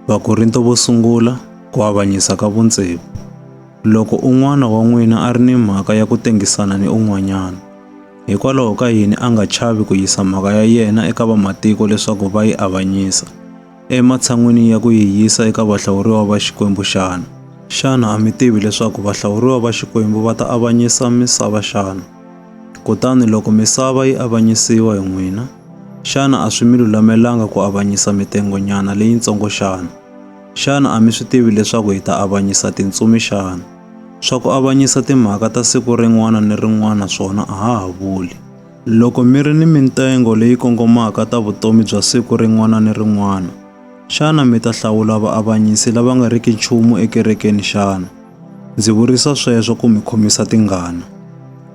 Vakorinto vo sungula ku avanyisa ka vuntshevu. Loko un'wana wa n'wina a ri ni mhaka ya ku tengisana ni un'wanyana, hikwalaho ka yini a nga chavi ku yisa mhaka ya yena eka vamatiko leswaku va yi avanyisa, ematshan'wini ya ku yi yisa eka vahlawuriwa va Xikwembu xana? Xana a mi tivi leswaku vahlawuriwa va Xikwembu va ta avanyisa misava xana? Kutani loko misava yi avanyisiwa hi n'wina, xana a swi mi lulamelanga ku avanyisa mitengonyana leyintsongo xana? Xana a mi swi tivi leswaku hi ta avanyisa tintsumi xana? Swa ku avanyisa timhaka ta siku rin'wana ni rin'wana swona a ha ha vuli. Loko mi ri ni mitengo leyi kongomaka ta vutomi bya siku rin'wana ni rin'wana, xana mi ta hlawula vaavanyisi lava nga riki nchumu ekerekeni xana? Ndzi vurisa sweswo ku mi khomisa tingana.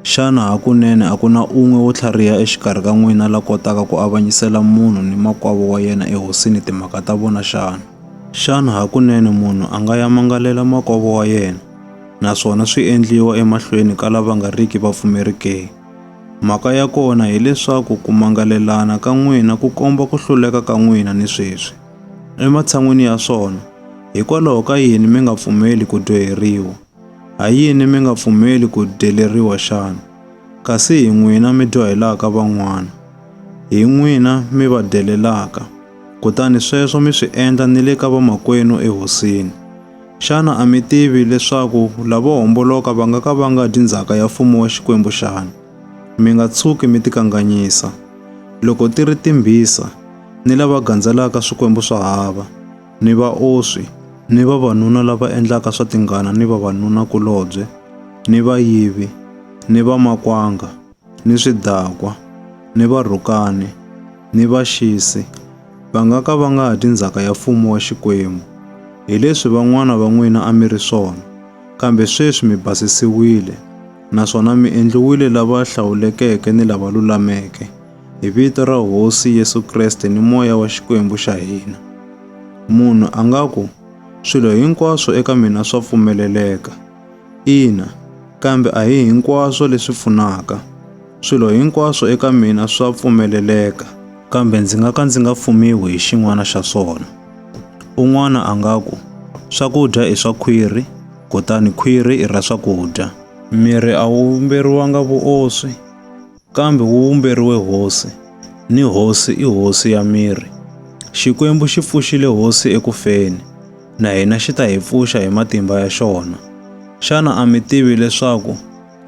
Xana hakunene a ku na un'we wo tlhariha exikarhi ka n'wina la kotaka ku avanyisela munhu ni makwavo wa yena ehosini timhaka ta vona xana? Xana hakunene munhu a nga ya mangalela makwavo wa yena, naswona swi endliwa emahlweni ka lava nga riki vapfumeri ke? Mhaka ya kona hi leswaku ku mangalelana ka n'wina ku komba ku hluleka ka n'wina ni sweswi. ematshan'wini ya swona, hikwalaho ka yini mi nga pfumeli ku dyoheriwa? Ha yini mi nga pfumeli ku dyeleriwa xana? Kasi hi n'wina mi dyohelaka van'wana, hi n'wina mi va dyelelaka, kutani sweswo mi swi endla ni le ka vamakwenu ehosini. Xana a mi tivi leswaku lavo homboloka va nga ka va nga dyi ndzhaka ya mfumo wa Xikwembu xana? Mi nga tshuki mi tikanganyisa. Loko ti ri timbhisa, ni lava gandzelaka swikwembu swa hava, ni vaoswi, ni vavanuna lava endlaka swa tingana ni vavanuna-kulobye, ni vayivi, ni vamakwanga, ni swidakwa, ni varhukani, ni vaxisi, va nga ka va nga ha dyi ndzhaka ya mfumo wa Xikwembu. Hi leswi van'wana va n'wina a mi ri swona, kambe sweswi mi basisiwile, naswona mi endliwile lava hlawulekeke ni lava lulameke, hi vito ra Hosi Yesu Kreste ni moya wa Xikwembu xa hina. Munhu a nga ku, swilo hinkwaswo eka mina swa pfumeleleka. Ina, kambe a hi hinkwaswo leswi pfunaka. Swilo hinkwaswo eka mina swa pfumeleleka, kambe ndzi nga ka ndzi nga fumiwi hi xin'wana xa swona. Un'wana a nga ku, swakudya i swa khwiri, kutani khwiri i ra swakudya. Miri a wu vumberiwanga vuoswi. kambe wu vumberiwe hosi, ni hosi i hosi ya miri. Xikwembu xi pfuxile hosi eku feni, na hina xi ta hi pfuxa hi matimba ya xona. Xana a mi tivi leswaku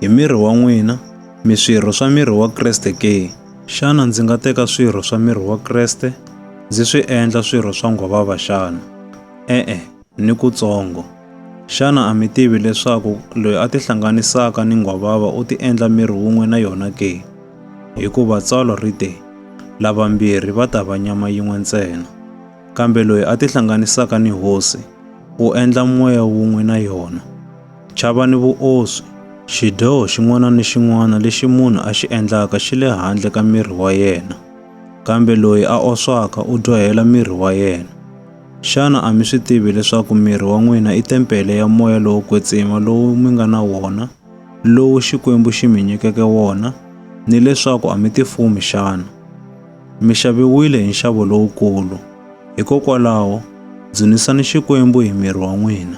hi miri wa n'wina mi swirho swa miri wa Kreste ke? Xana ndzi nga teka swirho swa miri wa Kreste ndzi swi endla swirho swa nghwavava xana? E-e. ni kutsongo. Xana a mi tivi leswaku loyi a tihlanganisaka ni nghwavava u tiendla miri wun'we na yona ke? Hikuva tsalwa ri te, Lavambirhi va ta va nyama yin'we ntsena. Kambe loyi a tihlanganisaka ni Hosi u endla moya wun'we na yona. Chavani vuoswi! Xidyoho xin'wana ni xin'wana lexi munhu a xi endlaka xi le handle ka miri wa yena, kambe loyi a oswaka u dyohela miri wa yena. Xana a mi swi tivi leswaku miri wa n'wina i tempele ya moya lowo kwetsima lowu mi nga na wona, lowu Xikwembu xi mi nyikeke wona, ni leswaku a mi tifumi xana? Mi xaviwile hi nxavo lowukulu, hikokwalaho, dzunisani Xikwembu hi miri wa n'wina.